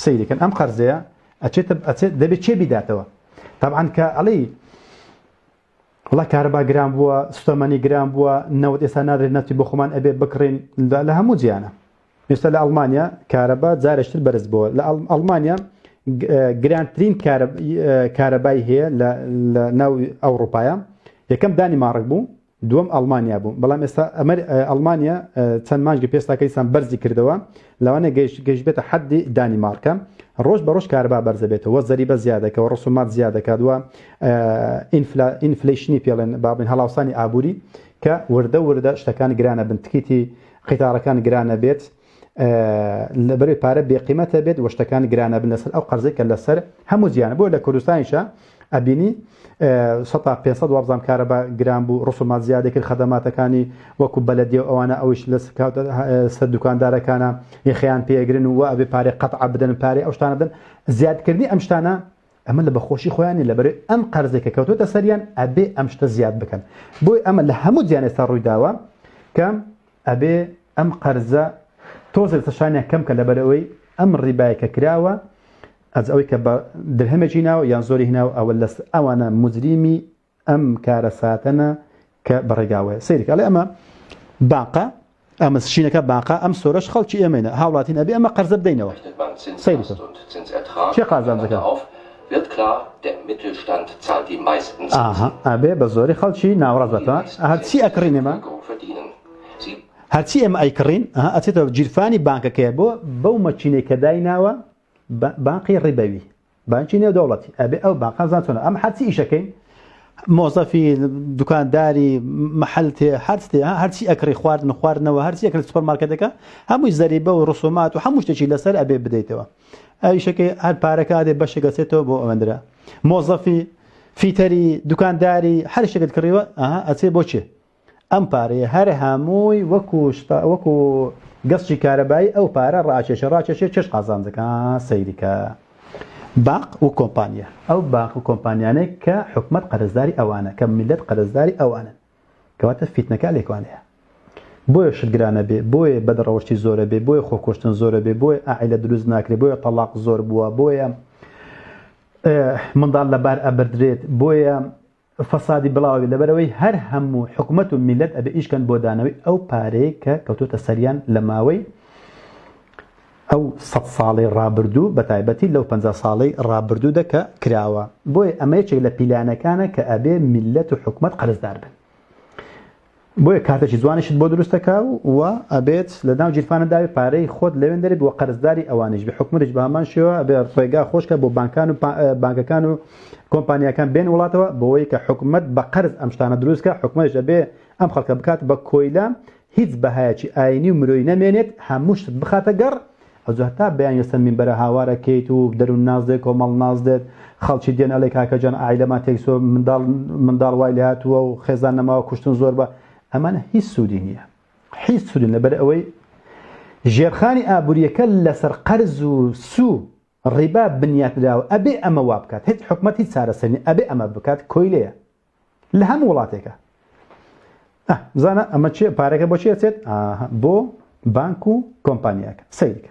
سەیری کەن ئەم قەرزەیە ئەچێتە ئەچێت دەبێت چێ بیداتەوە تابعاان کە ئەڵی وڵا کارەبا گران بووە سوتەمەنی گران بووە نەوت ئێستا نادرێت نەتی بۆ خۆمان ئەبێ بکڕین لە هەموو جیانە ئێستا لە ئەڵمانیا کارەبا جارشتر بەرز بووە لە ئەڵمانیا گرانترین کارەبای هەیە لە ناو ئەوروپاە یەکەم دانی ماڕک بوو دووەم ئەڵمانیا بوو بەڵام ئێستا ئەمەر ئەڵمانیا چەند مانگە پێستاکەیسان بەرزی کردەوە لەوانە گەشت گەشت بێتە حەدی دانیمارکە ڕۆژ بە ڕۆژ کاربا بەرزە بێتەوە زەریبە زیادەکەەوە ڕسومات زیادەکات وە ئینفلیشنی پێڵێن بابن هەڵاوسانی ئابووری کە وردە وردە شتەکان گرانە بنتکیتی قیتارەکان گرانە بێت لە بەرەی پارە بێقیمەتە بێت و شتەکان گرانە بن لەسەر ئەو قەرزی کە لەسەر هەموو زیانە بۆ لە کوردستانیشە ئەبینی 500 وابزان کارە بە گران بوو ڕسومات زیادە کرد خەدەماتەکانی وەکو بەلەدی و ئەوانە ئەوش لە سەر دوکاندارەکانە یخیان پێگرن و ئەبێ پارێ قەت بدەن پارێ ئەو شتانە بدەن زیادکردنی ئەم شتانە ئەمە لە بەخۆشی خۆیانی لە بەرەی ئەم قەرزێکە کەوتوتە سەریان ئەبێ ئەم شتە زیاد بکەن بۆی ئەمە لە هەموو جیانێستا ڕوویداوە کە ئەبێ ئەم قەرزە تۆزێ لەسەر شانیان کەم کە لەبەر ئەوەی ئەم ڕیبای کە کراوە ئەز ئەوەی کە بە درهەمێکی ناوە یان زۆری هناو ئەوە لەس ئەوانە مجریمی ئەم کارە ساتەنە کە بەڕێگاوەیە سەیرکە ئەڵێ ئەمە باقە ئەمە شینەکە باقا ئەم سۆرەش خەڵکی ئێمەینە هاوڵاتین ئەبێ ئەمە قەرزە بدەینەوە سەیرکە چێ قازانجەکە Wird klar, der Mittelstand zahlt die meisten Zinsen. ئاها ئەبێ بە زۆری خەڵکی ناوەڕاست بە تۆ هەر چی ئەکڕین ئێمە هەر چی ئێمە ئەیکڕین ئەها ئەچێتەوە گیرفانی بانکەکەیە بۆ بەو مەکینەی کە دایناوە بانقی ڕیبەوی بانکی نێو دەوڵەتی ئەبێ ئەو بانقە زان چۆنە ئەم هەرچی ئیشەکەین مۆزەفی دوکانداری محل تێ هەرتێ هەرچی ئەکری خواردن خواردنەوە هەرچی ئەکرێت سوپەرمارکەتەکە هەمووی زەریبە و ڕسومات و هەموو شتێکی لەسەر ئەبێ بدەیتەوە ئەویشەکەی هەر پارەکە ئەدێ بەشێک دەچێتەوە بۆ ئەوەندرا مۆزەفی فیتەری دوکانداری هەر شتێکت کڕیوە ئەها ئەچێ بۆ چێ ئەم پارەیە هەر هەمووی وەکو وەکو گەستی کارەبایی ئەو پارە ڕاکێشە ڕاکێشێ چش قازانجەکە سەیریکە باق و کۆمپانیا ئەو باق و کۆمپانیانێک کە حکومت قەرزداری ئەوانە کە میلەت قەرزداری ئەوانن کەواتە فیتنەکە لێکوانەیە بۆیە شت گرانەبێ بۆیە بەد ڕەوشتی زۆرەبێ بۆیە خۆکۆشتن زۆرەبێ بۆیە ئاعلە دروست ناکرێ بۆیە تەلاق زۆر بووە بۆیە منداڵ لەبار ئەبدرێت بۆیە فەسادی بڵاوی لەبەرەوەی هەر هەموو حکوومەت و میلەت ئەبێ ئیشکەن بۆ دانەوەی ئەو پارەیە کە کەوتۆتە سەریان لە ماوەی ئەو سەد ساڵەی ڕابردوو بە تایبەتی لەو پەنجا ساڵەی ڕابردوودا کە کراوە بۆیە ئەمە یەکێک لە پیلانەکانە کە ئەبێ میللەت و حکومەت قەرزدار بن بۆیە کارتێکی جوانیشت بۆ دروستەکە و ئەبێت لە ناو جیرفانە داوی پارەی خۆت لەوێن دەرێت بۆ قەرزداری ئەوانیش بە حکومەتیش بە هەمان شێوە ئەبێ ڕێگا خۆشکە بۆ بانکان و بانکەکان و کۆمپانیەکان بێن وڵاتەوە بۆەوەی کە حکومت بە قەرز ئەم شتانە دروستکە حکومەتش ئەبێ ئەم خەڵکە بکات بە کۆیلە هیچ بەهایەکی ئاینی و مرۆیی نەمێنێت هەموو شتت بخاتە گەڕ ئەوجا هەتا بەیانی لەسەر مینبەرە هاوار ئەکەیت و دەروون ناز دێ کۆمەڵ ناز دێت خەڵکی دێن ئەڵێ کاکە جان عایلەمان تێکچووە منداڵ منداڵ وای لێهاتووە و خێزان نەماوە کوشتن زۆر بە ئەمانە هیچ سوودی نییە حیز سوودن لەبەر ئەوەی ژێرخانی ئابووریەکە لەسەر قەرز و سوو ڕیبا بنیات نراوە ئەبێ ئەمە وابکات هیچ حکومەت هیچ چارەسەر نیە ئەبێ ئەمە بکات کۆیلەیە لە هەموو وڵاتێکە بزانە ئەمە چێ پارەکە بۆ چێ چێت بۆ بانک و کۆمپانیاکە سیرکە